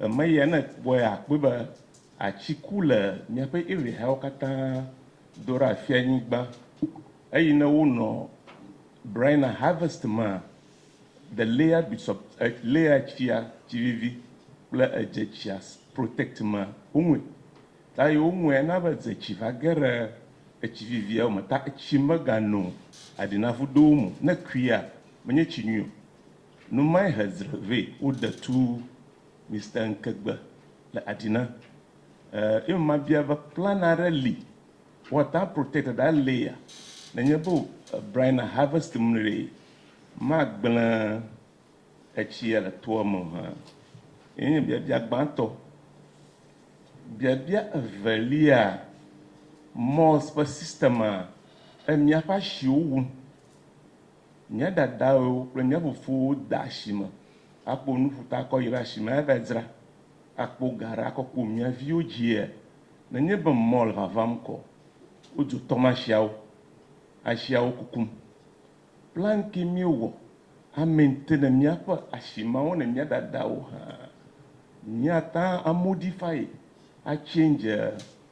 Emeya ne ekpɔe akpɔe be atsi ku le miaƒe area yawo katã do ɖe afia nyigba eyi ne wo nɔ Braina harvest mea, the layer be sub layer tsia tsi vivi kple edze tsia protect mea wo ŋue ta yi wo ŋue na be dze tsi va ge ɖe etsi vivia wo me ta etsi me ga no aɖi na ƒu do wo mo ne kuia me nye tsi nyui o. Nu mae he dzre vɛ wo de tu Mister Nkegbe le Adina. Eh, eme ma bia be plan aɖe li wa ta protect ɖa lea ne nye be Brian na harvest mle ma gble etsia le toa me ha. Ye nye biabia gbãtɔ. Biabia evelia, Mɔz ƒe system a e mia ƒe ashiwo wum. Nye dadawo kple nye fofowo de asi me akpɔ nu ƒuta akɔ yi ɖe asi me ava dzra akpɔ ga ɖe akɔ kpɔ mía viwo dzia? Nenye be mɔ le vavam kɔ, wodzo tɔmasiawo asia wo kukum. Plan ke míewɔ amaintene míaƒe asi mawo ne mía dadawo hã. Míata amodify, a change.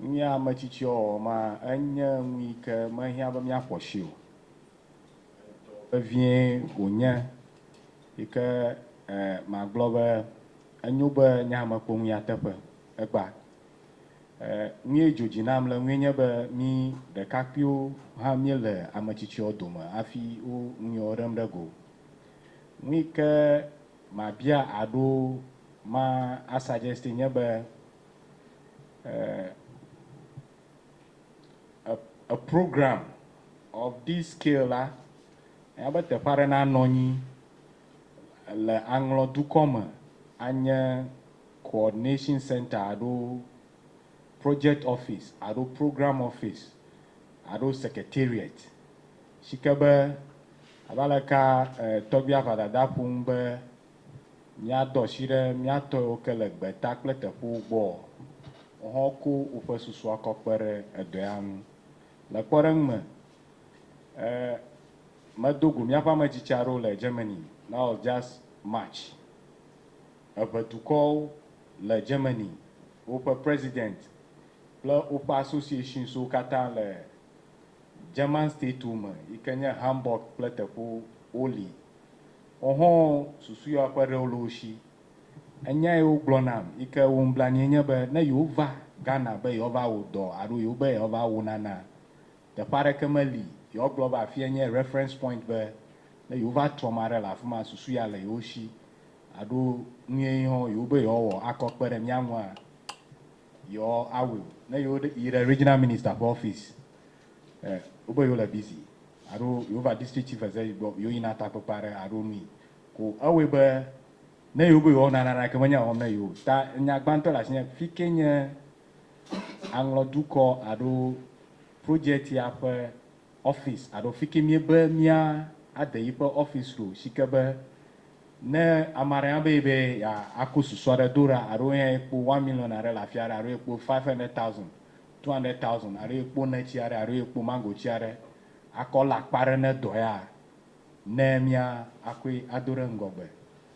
Nye ame tsitsi ɔwɔwɔ ma enye nu yi ke mehiã be míaƒo asi o. Edɔ vevie wònye yi ke magblɔ be enyo be nye ame kpɔ nu nyateƒe. Egbea nue dzo dzi nam le nue nye be mí ɖekakpuiwo hã míele ame tsitsiwo dome hafi wo nu yewo ɖem ɖe go. Nu yi ke mabia aɖo ma a suggest nye be, eh, a, a program of this scale la, enya be teƒe aɖe nanɔ anyi le aŋlɔ dukɔ me anye coordination center alo project office alo program office alo secretariat si ke be abe aleka eh, tɔgbia Ʋadada ƒo nu be Míadɔ shi ɖe mía tɔɛwo ke le gbeta kple teƒewo gbɔ ɔ, wo hã wo ko woƒe susu akɔ kpe ɖe edɔɛa ŋu. Le kpɔɖeŋ me, e me do go míaƒe ame tsitsi aɖewo le Germany, that was just March. Eŋe dukɔwo le Germany, woƒe president kple woƒe associations wo katã le German states wo me yi ke nye Hamburg kple teƒewo wo li. Hoho susu ya ƒe ɖewo le wo shi. Enya yi wogblɔ nam yi ke wum blanui nye be ne yewova Ghana be yewoava wɔ dɔ alo yewo be yewoava wɔ nana, teƒe aɖeke meli yewogblɔ be afia nye reference point be ne yewova trɔ ame aɖe le afi ma susu ya le yewo shi alo nuye yi hɔn yewo be yewoawɔ akɔ kpe ɖe mía ŋua, yewoawɔe o. Ne yewo yi ɖe regional minister ƒe office Eh wogbe yewo le busy alo yewo va district chief eze yi gbɔ yewo yina takpekpe aɖe alo nui ko ewɔe be ne yewo be yewoawɔ nana ɖake menye wɔm ne yewo ta nya gbãtɔ le asi nye fike nye aŋlɔ dukɔ alo project ya ƒe office alo fike mie be mia ade yi ƒe office ɖo sike be ne ame aɖe ya be yi be ya ako susu aɖe do ɖa alo eya ekpo one million aɖe le afia ɖe alo ekpo five hundred thousand two hundred thousand alo ye kpo neti aɖe alo ye kpo mango ti aɖe akɔ le akpa aɖe ne dɔ ya ne mía akɔe ado ɖe ŋgɔgbe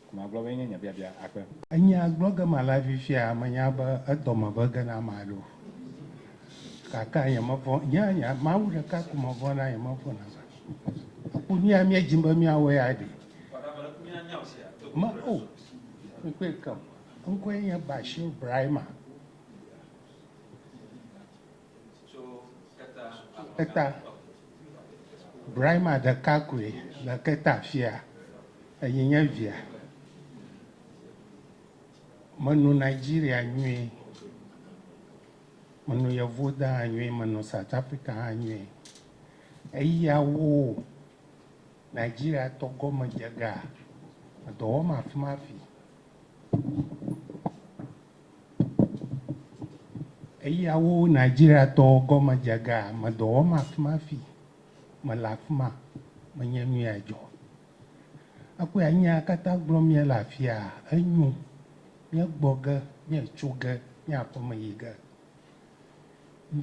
ko magblɔ be enye nye biabia akpe. Enya gblɔ ge ma la fifia menya be edɔ me be ge na ma ɖo gake nye me vɔ̃ nye nye Mawu ɖeka ko me vɔ̃ na nye me vɔ̃ na va aku nuya mía dim be mía wɔ ya ɖi me o mi kpɔe ke o ŋkɔe nye Bashir Brahima. Keta. Brahima ɖeka koe le Keta fia eyi nye via. Meno Nigeria nyuie, meno yevu da hã nyuie, meno South Africa hã nyuie. Eya wo Nigeria tɔ gɔme dze gaa, edɔ wɔm afi ma afi. Eya wo Nigeria tɔwo gɔme dze ga me dɔ wɔm afima fi me le afima me nye nu ya dzɔ. Ekpɔ ya nya kata gblɔ mi le afia enyu mi gbɔ ge mi tso ge mi aƒe me yi ge.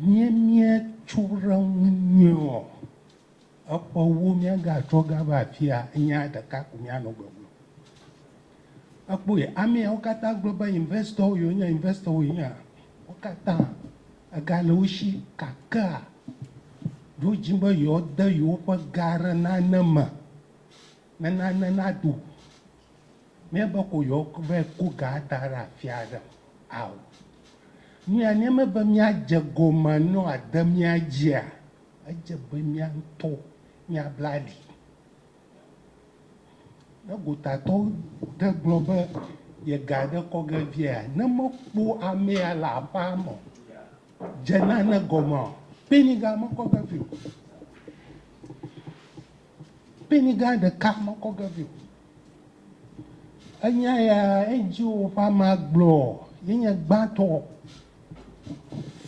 Mie mie tso re ŋu nyuiɔ Ekpɔ wu míagatrɔ gava afia nya ɖeka ko míanɔ gbe gblɔm. Ekpɔe, ameawo katã gblɔ be investɔwo yewonye, investɔwo yewonye. Wo katã ega le wo si kakea ɖo dzi be yewoade yewoƒe ga ɖe nane me ne nane naɖo ne be ko yewova ko ga ada ɖe afi aɖe. Ao, nu ya ne mebe míadze egɔme ne wòade mía dzia, Edze be mía ŋutɔ míabla ali. Ne gotatɔ ɖe gblɔ be ye ga ɖe kɔ ge viaa, ne mekpɔ amea le aƒea me o, dze nane gɔmea? Kpeni ga mekɔ ge vi o. Peni gã ɖeka mekɔ ge vi o. Enya ya edzi woƒe ame agblɔ yenye gbãtɔ.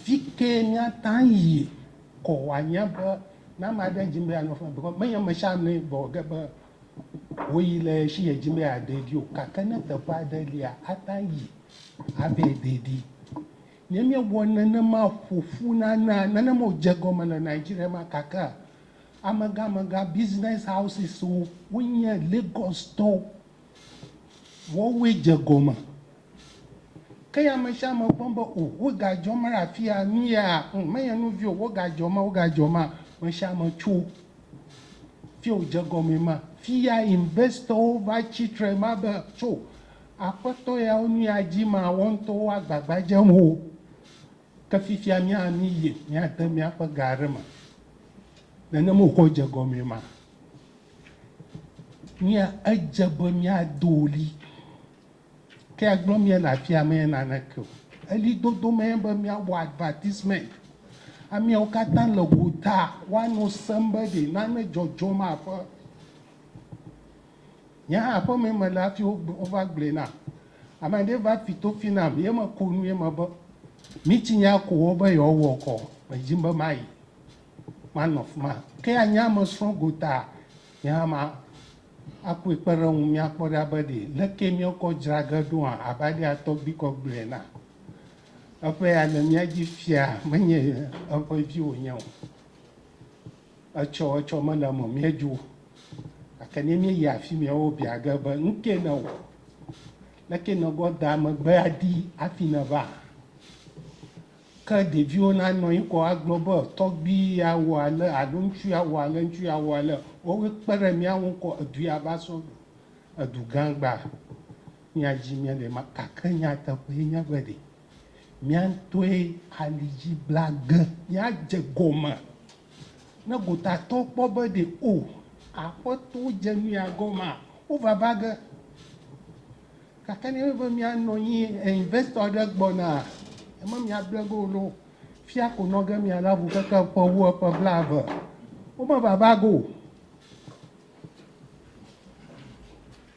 Fike míata yi kɔ wòanye be ne ame aɖe dim be yeanɔ afi ma because menye ame sia ame gblɔ ge be woyi le si yedim be yeade ɖi o gake ne teƒe aɖe lia ate ŋu ayi ava yi de ɖi. Ne míewɔ nenema ƒoƒu nana nenema wodze egɔme le Nigeria ma kakea, Amegãmegã business houses wo wonye Lagos tɔwo. Woawoe dze gɔme. Ke ya ame sia ame kpɔm be o woga dzɔ me ɖe afia nu ya ŋ menye nu vi o woga dzɔ ma woga dzɔ ma ame sia ame tso fi o dze gɔme ma fi ya investor wo va tsi tre ma be tso aƒetɔ ya wo nu ya dzi ma wo ŋutɔwo agbagba dzem o Ke fifia mía míyi míade míaƒe ga aɖe me. Nenem wòkɔ dze egɔmee ma, mía edze be míado ɣli. Ke agblɔ mía le afia mee naneke o. Ɣlidodo mee be míawɔ advertisement. Ameawo katã le gota woanɔ sem be ɖe nane dzɔdzɔm aƒe. Nye hã aƒeme mele hafi wova gblɔe nam. Ame aɖee va fi tofi nam ye meko nu ye mebe, Mitsi nya ko wo be yewoawɔ kɔ, medim be mayi manɔ afi ma. Ke anya me srɔ̃ gotaa, nye hã makɔe kpe ɖe ŋu míakpɔ ɖa be ɖe leke míekɔ dzra ge ɖoa abe alea tɔgbuikɔ gblɔe na eƒe ya le mía dzi fia menye eƒe vi wònye o. Etsɔ etsɔ mele eme míedzo o. Gake ne míeyi afi mɛ wobia ge be, Nu kae nèwɔ? Leke nègɔ da megbe aɖi hafi nèva? Ke ɖeviwo nanɔ anyi kɔ agblɔ be, Tɔgbui ya wɔ ale alo ŋutsu ya wɔ ale, ŋutsu ya wɔ ale. Woawoe kpe ɖe mía ŋu ŋkɔ edu ya va sɔ gbɔ. Edu gã gbaa. Míadzi míele ema. Gake nyateƒee nye be ɖe. Mía ŋutɔe ali dzi bla ge. Míadze gɔme ne gotatɔwo kpɔ be ɖe O, Aƒetɔ dze nuya gɔmea, wova va ge. Gake ne míabe be míanɔ anyi, investor aɖe gbɔna, eme míable ge o loo, fia ko nɔ ge míalé avu keke ƒe wu eƒe blaeve, womeva va ge o.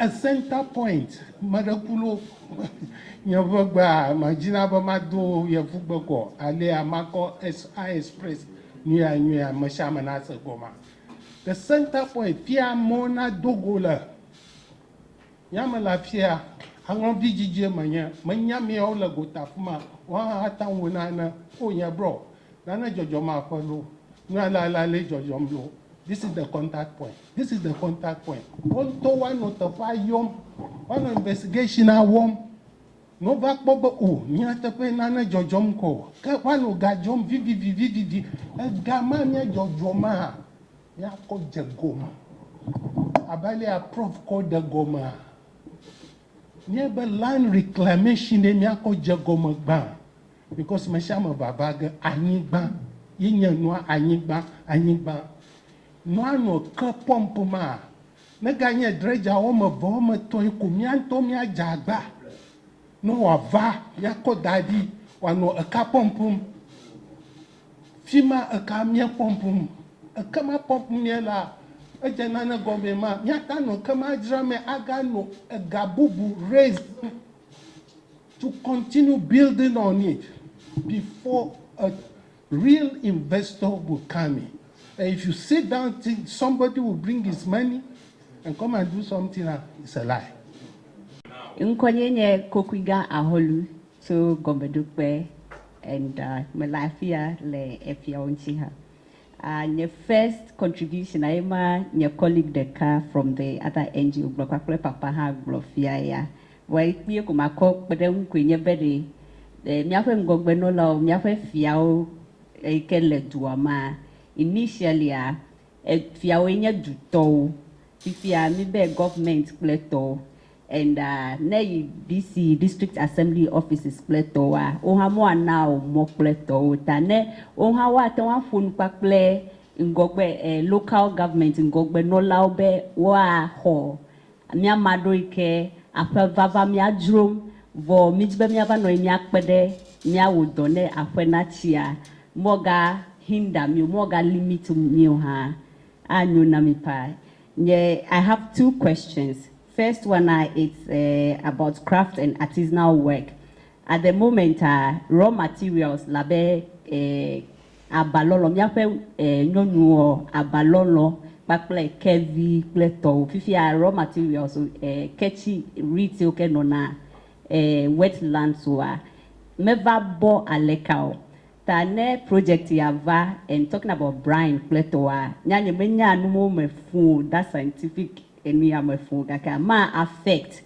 E center point meɖe ku lo nye ƒe gbea ma dzi na be ma do yevu gbe kɔ alea ma kɔ es a express nuya nuya me sia me na se gɔma the center point fia mo na do go le ya me la fia aŋlɔ vi dzidzie me nye me nya mi o le go ta fuma wa ha ta wo na ne o nye bro na ne jɔjɔ ma ƒe lo nua la la le jɔjɔ mi lo this is the contact point This is the contact point. Woto wa nɔ teƒea yɔm, wa nɔ investigation a wɔm, nɔ wo va kpɔ be o mía teƒe nane dzɔdzɔm kɔ o. Ke wa nɔ ga dzɔm vivivi vivivi. Ega ma mía dzɔdzɔ maa, mía kɔ dze gɔme. Abe alea prof kɔ ɖe gɔmea, nye be land reclamation ɖe mía kɔ dze gɔme gbã. Because mesiame vava ge anyigba ye nye nua anyigba, anyigba. Manɔ ke pɔmp ma? Neganye dredger wɔme eve wɔme etɔ̃e ko mía ŋutɔ míadze agba ne wòava míakɔ da ɖi wòanɔ eka pɔmpm? Fi ma eka mía pɔmpm. Eke ma pɔmpm mía la, edze nane gɔmee ma míate ŋu anɔ ke ma dzram me aganɔ ega bubu raism to continue building on it before a Real investor will come in and if you sit down think somebody will bring his money and come and do something now it's a lie. Ŋkɔnye nye Kokuiga Ahɔlu tso Gɔmeɖokpe and mele afia le efiawo ŋuti ha. Nye first contribution a ye ma nye colleague ɖeka from the other NGO gblɔ kpakple papa hã gblɔ fia ya. Wɔe kpuie ko makɔ kpeɖeŋu koe nye be ɖe míaƒe ŋgɔgbenɔlawo, míaƒe fiawo yi ke le dua mea, initially-a, fiawoe nye dutɔwo, fifia míbe government kple tɔwo and ne yi DC, District Assembly Offices, kple tɔwoa, wohã woana wò mɔ kple tɔwo ta ne wohã woate ŋu aƒo nu kpakple ŋgɔgbe, local government ŋgɔgbenɔlawo be woaxɔ Mía ma ɖo yi ke aƒe vava mía dzrom, vɔ mí dzi be mía va nɔ anyi mía kpe ɖe mía wò dɔ ne aƒe na tsia. Mɔ ga hinder mí o, mɔ ga limit mí o hã. A nyo na mí paa. Nye I have two questions. First one a it's about craft and artisanal work. At the moment a raw materials labe Abalɔlɔ, míaƒe nyɔnuɔ, abalɔlɔ kpakple kevi kple tɔwo. Fifia raw materials ke tsi reeds yiwo ke nɔna wet lands oa meva bɔ aleka o. Ta ne project ya va and talking about brine kple tɔwoa, nya nye menya nuwo me fũ o, that scientific enu ya me fũ o gake ma affect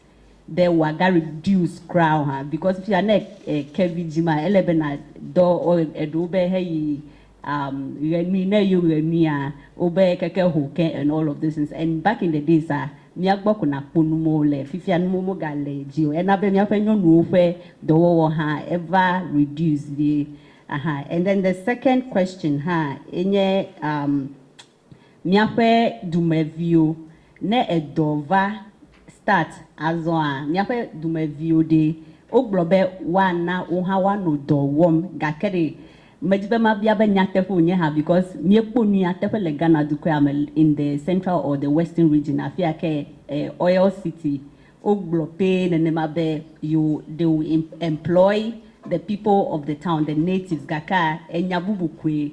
Ɖe wòa ga reduce kura o hã because fia ne e ke vi dzi ma ele be na dɔ o eɖewo be he yi um ɣe nui ne eyo ɣe nuia wo be keke ho ke and all of those things and back in the days a mía gbɔ ko na kpɔ nu mɔ le fifia nu mɔ mo ga le dzi o ena be mía ƒe nyɔnuwo ƒe dɔwɔwɔ hã eva reduce vie ahan and then the second question hã enye um Míaƒe dumeviwo, ne edɔ va start azɔa, míaƒe dumeviwo ɖee? Wogblɔ be woana wo hã woanɔ dɔ wɔm gake ɖe medi be mabia be nyateƒe wònye hã because míekpɔ nu ya teƒe le Ghana dukɔa me in the central or the western region afia ke oil city wogblɔ pee nenema be yewo they will employ the people of the town, the natives gakea enya bubu koe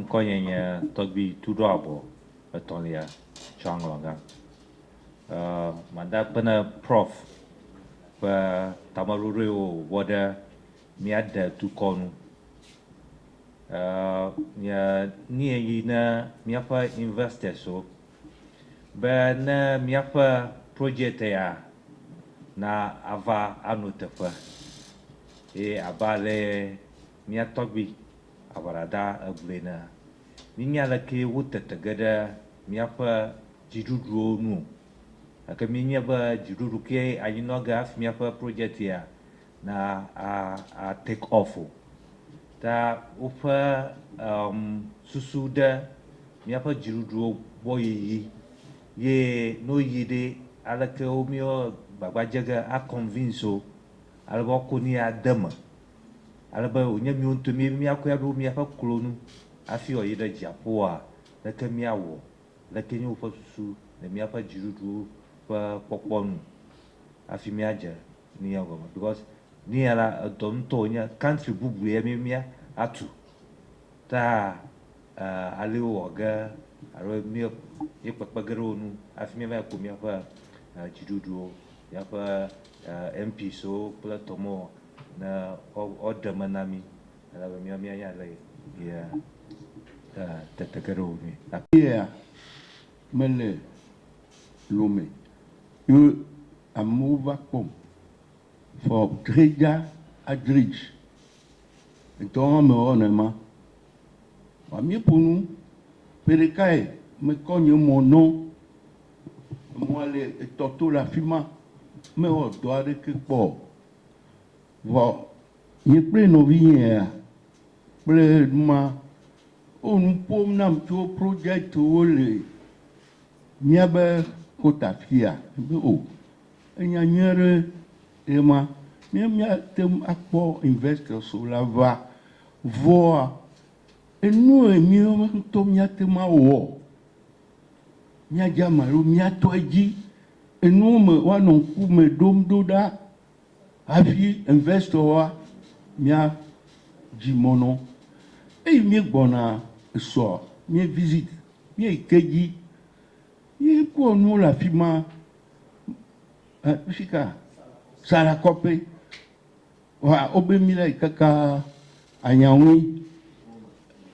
Ŋkɔnye nye Tɔgbui Tuɖoabɔ Etɔ̃lia Tsɔaŋlɔgã. Mada akpe ne Prof. ƒe tameɖoɖoe wòwɔ ɖe míade dukɔ nu. Nye nue yi ne míaƒe investors-wo be ne míaƒe project ya na ava ano teƒe ye abe ale Mía tɔgbui aʋaɖaɖa egblɔe ne míenya alekee wotete ge ɖe míaƒe dziɖuɖuwo nu o, gake míenyae be dziɖuɖu kee anyinɔ ge hafi míaƒe project ya na a a take off o. Ta woƒe um susu ɖe míaƒe dziɖuɖuwo gbɔ yiyi ye ne woyi ɖe aleke wo míwo gbagba dze ge a convince wo alebe woako nu ya de eme ale be wònye míwo ŋutɔe mí míakɔe aɖo míaƒe klo nu hafi wòayi ɖe dziaƒoa, leke míawɔ? Leke nye woƒe susu le míaƒe dziɖuɖuwo ƒe kpɔkpɔ nu hafi míadze New York gɔme? Because New York la, edɔ ŋutɔ wònye, country bubu ye mí mía atu. Ta aleo wòwɔ ge alo mí míekpekpe ge ɖe wo nu hafi míava yi ku míaƒe dziɖuɖuwo, míaƒe MPs wo kple tɔmewo Ne woɖe me na mí, ele be míawo míanya ale si tete ge ɖe wo ŋui. Yea mele lome ye amewo va kpɔm fɔ dredza adredz ŋtɔ hã me wɔ nɛma wa mí ƒo nu ƒe ɖekae me kɔ nye mɔ nɔ emɔa le etɔ to le afima me wɔ dɔ aɖeke kpɔ Vɔ nye kple nɔvinyea kple numa wo nu ƒom nam tso projectwo le míabe kota afia. Be o, enya nyui aɖe ye ma. Míawo míate ŋu akpɔ investors wo la va. Vɔa enu ye míawo ŋutɔ míate ŋu awɔ, míadze ama alo míatɔ edzi Enuwo me woanɔ ŋku me ɖom ɖo ɖa hafi investɔwoa mía dzi mɔ nɔ. Eyi míegbɔna esɔ mí visit míeyi ke dzi yi kpɔ nuwo le afi ma. Fika Sarakɔpe. Wa obe mi lay kaka anyaŋui.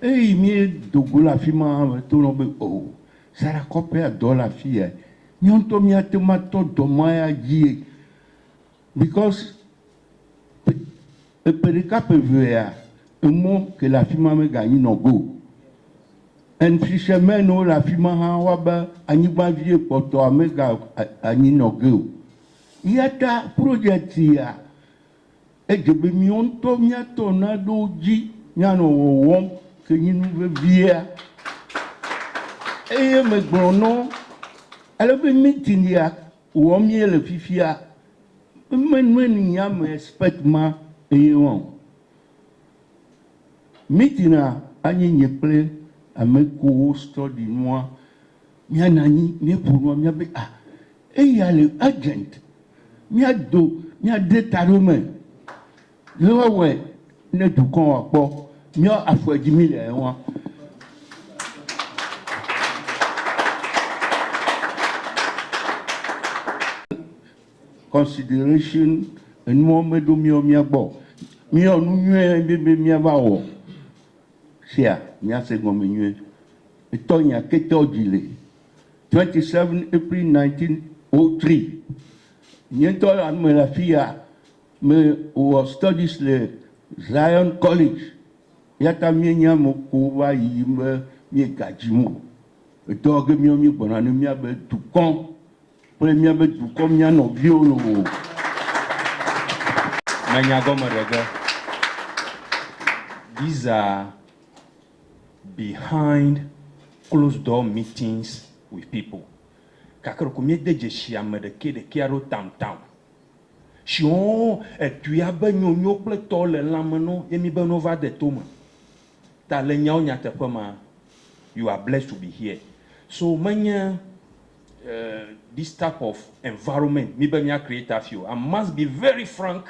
Eyi mi dogo le afi ma me to nɔ be o sara kɔpe a dɔ le afi ya. Miɔ ŋtɔ mi a te ma tɔ dɔ ma ya dzi ye because pe epe ɖeka pe ve ya emɔ ke le afi ma me ga nyi nɔ go. And fishermen wo le afi ma hã wa be anyigba vie kpɔtɔ a me ga a nyi nɔ ge o. Eyata project sia, edze be miɔ ŋutɔ miatɔ naɖo dzi mianɔ wɔwɔm ke nyi nu vevia. Eye megblɔ nɔ alebe meeting ya wɔm miele fifia, me nɔɛni nya me expect ma eye ma o. Meeting a anyi nye kple amekuwo study nua Mía na anyi mía ƒo nua mía be ah eya le urgent mía do mía de ta ɖe wo me le wa wɔe ne dukɔ wa kpɔ mía afɔe dzi mí le ɛ wa. Consideration enuɔ me ɖo mía mía gbɔ mía nu nyɔɛ be be mía va wɔ. sia miase gɔme nyuie. Etɔ nya ketɔ dzi le. 27 April 1903, nye ŋutɔ la mele afi ya me wɔ studies le Zion College eyata mienya ame ko va yiyim be miegadzi mo. Edɔ ge miɔ migbɔna ne miabe dukɔ. Kple míabe dukɔ, mía nɔviwo loo. Menya gɔmeɖege. These are behind closed door meetings with people. Gake ɖeko míede dzesi ame ɖekɛ ɖekɛa ɖo tam tam. Shiɔɔ edua be nyonyo kple tɔ le lãme no ye míbe no va de tome. Ta le nyawo nyateƒe ma, you are blessed to be here. So menye. This type of environment mi be mia create hafi o, I must be very frank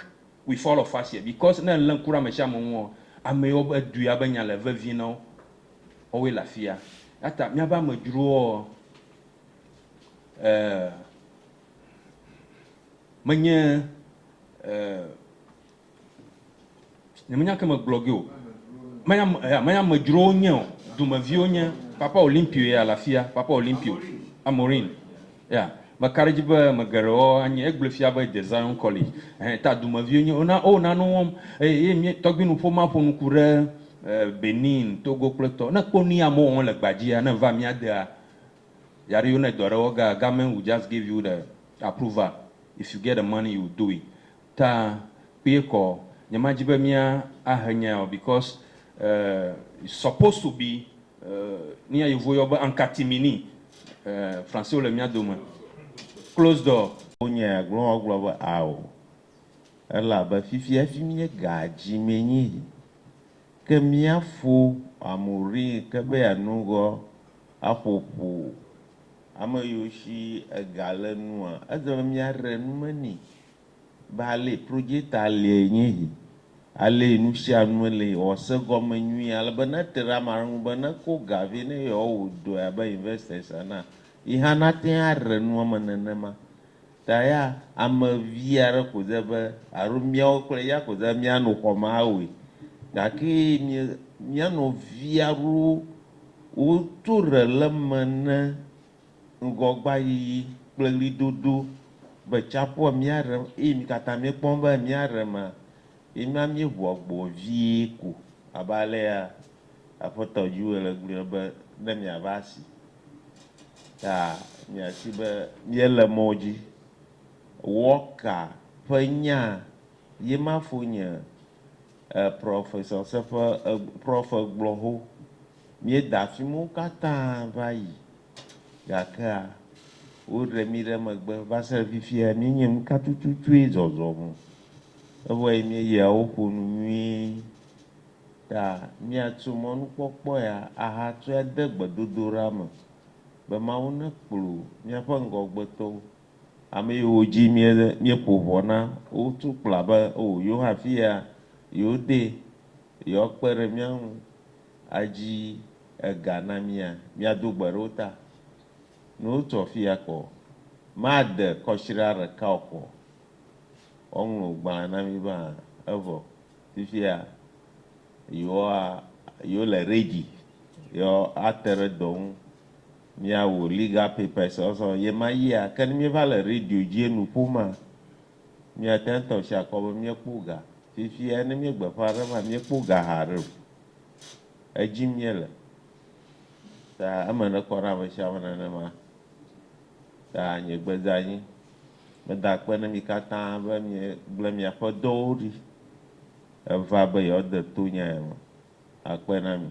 with all of us here because ne ele ŋku ɖe ame sia ame ŋu ɔ, ame yiwo be du ya be nya le vevie na wo ɔ woe le afia. Eya ta miabe amedzrowo ɔ eh menye eh. Nyemenya ke megblɔ ge o. Menye ame, ya, menye amedzrowo wonye o. Dumeviwo nye Papa Olimpio ya le afia, Papa Olimpio, Amorin. Ya, meka ɖe edzi be ame geɖewo anye, egblɔe fia be de Zion College. Ɛhɛ, ta dumeviwo nye, wona, wona nu wɔm. Eye, eye mía, tɔgbinuƒomea ƒo nuku ɖe, e, Benin, Togo kple etɔ. Ne ekpɔ nuyi amewo wɔm le gbadzia, ne eva mía dea, ya ɖe yɔnɛ dɔ aɖe wɔ ge, government will just give you the approval. If you get the money, you will do it. ta kpuie kɔ nyema dzi be mía a he nyae o because it's supposed to be nuya yevuwo yɔ be en catimini français wo le mía dome close door. Wo nya ya gblɔm wa gblɔ be ao elabe fifi hafi mía ga dzi mee nyi yi ke mía fo amu ri ke be ya nu ŋgɔ a ƒo ƒu ame yiwo shi ega le nua edze be mía re nume ni. be ale Projeta lee nye esi, alee nusianue le yewoase gɔme nyuie alebe ne ete ɖe ame aɖe ŋu be neko ga vɛ ne yewoawɔ dɔe abe investors ene a, yi hã nate ŋu aɖe nua me nenema. Ta ya ame vi aɖe ko de be alo míawo kple eya ko de be míano xɔ me awɔe. Gake mía, mía nɔvi aɖewo woto ɖe le eme ne. ŋgɔgbayiyi kple ɣlidodo be tsaƒua míaɖem eye mi katã miekpɔm be míaɖemea, míema míeʋu agbo vie ko abe alea Aƒetɔ Yoel gblɔe be, ne miava asi ta miasi be míele mɔ dzi. Walker ƒe nya ye ma fo nye Professor Seƒe Prof gblɔ ho. Míeda afi mawo katã va yi, gakea woɖe mí ɖe megbe. Va se ɖe fifia, míenye nuka tututue zɔzɔ mo. Evɔe míeyia wo ƒo nu nyuie. Ta míatso mɔnukpɔkpɔ ya ahatsɔe ade gbedodoɖa me be Mawu nekplɔ míaƒe ŋgɔgbetɔwo, ame yiwo dzi míeƒo ʋɔ na wo tso kpla be, Oo, yewo hã afi ya yewodee, yewoakpe ɖe mía ŋu. adzi ega na mía, míado gbe ɖe wo ta. Ne wotu afia kpɔ, made kɔsiɖa ɖeka o kpɔ. Woaŋlɔ wò gbalẽ na mí be hã. Evɔ fifia yewoa, yewole ready be woate ɖe dɔ ŋu. Míawɔ legal papers sɔsɔ ɣemaɣia. Ke ne míeva le radio dzi enu ƒomea, Míate ŋu atɔ asi akɔ be míekpɔ ga. Fifia ne míegbe ƒã aɖe va, míekpɔ ga haɖe o. Edzim míele. Ta eme nekɔ na ame sia ame nenema. Ta nye gbe dze anyi. Meda akpe na mi katã be miegblẽ miaƒe dɔwo ɖi heva be yewoade to nya ya me. Akpe na mi.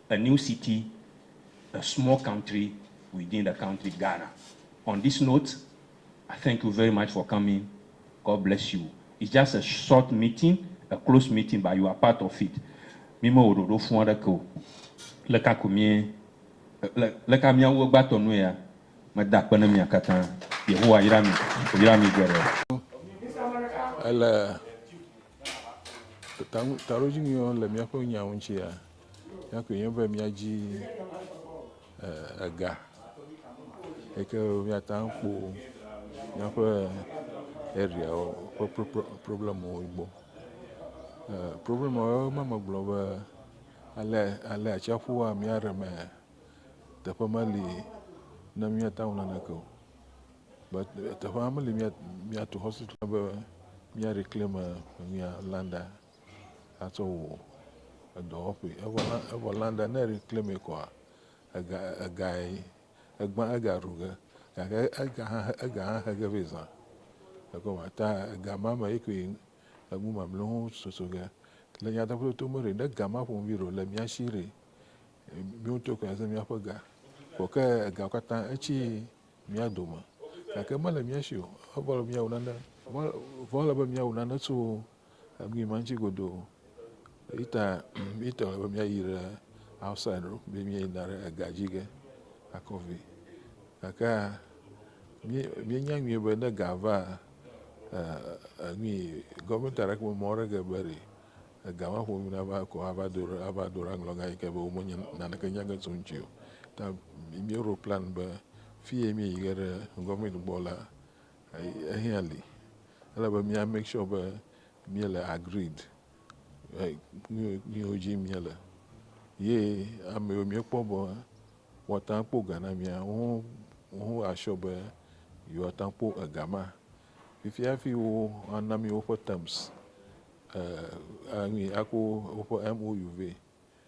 a new city, a small country within the country Ghana. On this note, I thank you very much for coming, God bless you. It's just a short meeting, a close meeting but you are part of it. Mi me wɔ ɖoɖo fũ aɖeke o. Leka ko mie, le, leka miawu egbãtɔ nue ya? Meda akpe ne mia katã. Yehowa yra mi, wòyra mi geɖe. Ele taɖodzinyuiwo le míaƒe nyawo ŋutia? Míaƒe ye be míadzi eh, ega yi ke míate ŋu akpɔ míaƒe areawo ƒe pro- pro- problemwo gbɔ. Eh, Problemwo ma megblɔ be ale ale atsiaƒua mía ɖe me teƒe meli ne míate ŋu naneke o. But eh, teƒe meli mía- míatu hospital be mía reclaim eh, mía landa. atsɔ wɔ edɔwɔƒee. Evɔ la, evɔ la ɖe ne èkle mɛ kɔa, ega, egae, egbã ega ɖu ge. Gake ega hã, ega hã he ge vɛ zã. Ekema ta ega ma me ye koe enu mamleawo hã soso ge. Le nyateƒetoto me ɖe, ne ega ma ƒomevi ɖe o, le mía shi ɖe, míwo ŋutɔ koe aze míaƒe ga. Vɔ ke egawo katã etsi mía dome. Gake mele mía shi o. Evɔ ele be míawu nane, vɔ, vɔ ele be míawu nane tso Egui ma ŋuti godoo. Eyi ta míetɔ be míayi ɖe outside ɖo be míeyina ɖe ega dzi ge akɔ vɛ. Gake míenya nyuie be ne ega va, gɔvimɛti aɖeke memɔ aɖeke be ɖe ega ma ƒomevi nava ekɔ ava do ɖe ava do ɖe aŋlɔga yi ke be womenye naneke nya ge tso eŋuti o. Ta míeɖo plani be fiyi míeyi ge ɖe gɔvimɛti gbɔ la, Ehiã li, ele be mía make sure be mía le agreed le nuyiwo dzi mía le. Ye ameyiwo mía kpɔ be woa teŋu akpɔ ga na mía, woho a sure be yewoa teŋu akpɔ ega ma. Fifia hafi wo a na mí woƒe terms, eh, eh, enu yi, a ko woƒe MOU vɛ.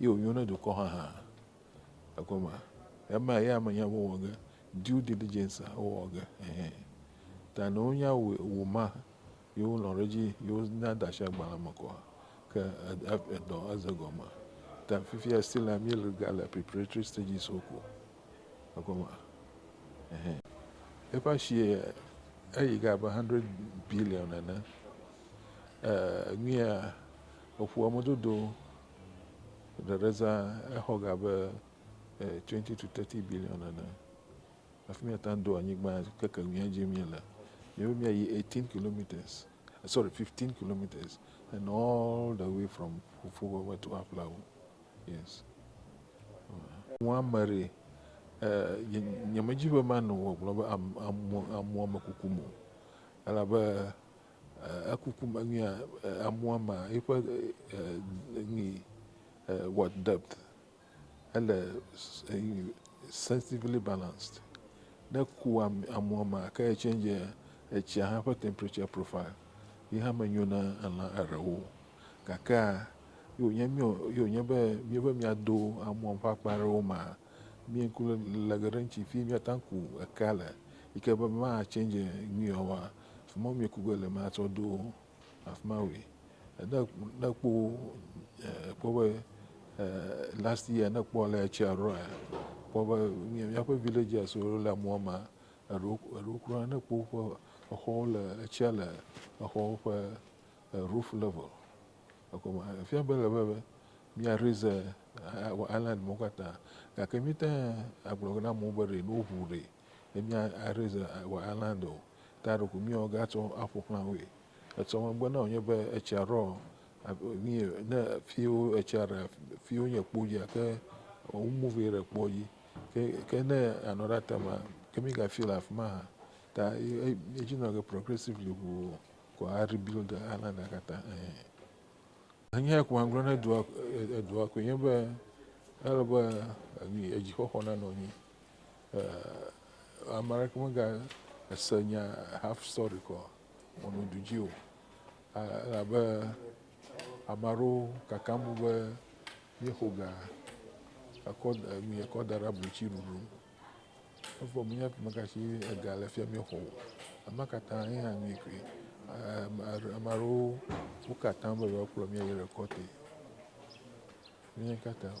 Ye wònyo ne dukɔ haha ekɔ ma. Ema ye ame nya wowɔ ge due diligence a wowɔ ge ehe. Ta ne wonya wo ma ye wonɔ ɖe dzi ye wona da asi agbalẽ me kɔa ke edɔ eze gɔme. Ta fifia still la mí le ga le preparatory stages wo ko ekɔ ma ehe. Eƒe asi eyi ge abe hundred billion nene. E nuya eƒoa me dodo Eɖe ɖe zã exɔ ga abe twenty to thirty billion ene. Hafi míate ŋu ado anyigba keke nu ya dim míele. Míawo míayi eighteen kilometres, sorry fifteen kilometres and all the way from Fofowɔwɛ to Aflawo. Yes. Amu ame ɖe, nye nyemedi be manɔ gbɔgblɔm be amu amu amekuku me o elabe. Eku ku me nyuia amua ma eƒe nyi what depth ele sensitively balanced ne eku amua ma ke e change etsia hã ƒe temperature profile ye hã me nyo na elã erewo gake a yo nye mio yo nye be mi be mia do amua ƒe akpa ɖewo ma mi ŋku le geɖe ŋtsi fi mia ta ku ekea le yike be ma change nyuiawa Fi ma womiku ge le ma tsɔ ɖo afi ma woe. Ne ne ekpɔ ekpɔ be last year ne ekpɔ ale etsia ɖoa ekpɔ be míaƒe villagers wo le mɔa me eɖewo eɖewo kura ne ekpɔ woƒe exɔwo le etsia le exɔwo ƒe roof level egɔme efia be ele be mía raise island mawo katã gake míete agblɔ na amewo be ɖe ne woʋu ɖe. ne mía areze wɔ island o ta ɖeko mía ga tsɔ aƒo xlã woe etsɔ megbe na wonye be etsia ɖɔ mi ne fiwo etsia ɖe fiwo nye kpo dzi ake wo move ɖe kpo dzi ke ke ne anɔ ɖe atama ke mi ga fi le afima ha ta edzi nɔ ke progressively ʋu ko a rebuild the island la katã enye ko ma gblɔ ne dua edua ko nye be ele be edzixɔxɔ nanɔ nyi eh, ame aɖeke mega ese nya half story kɔ mɔnu du dzi o elabe ame aɖewo kakam bu be míexo ga ekɔ mi ekɔ da ɖe ablotsi ɖuɖu efɔ míenya ƒe meka si ega le fia míexɔ o ema katã ye hã mi koe ame aɖewo wo katã be yewoakplɔ mí ayi rekɔte míenya katã o.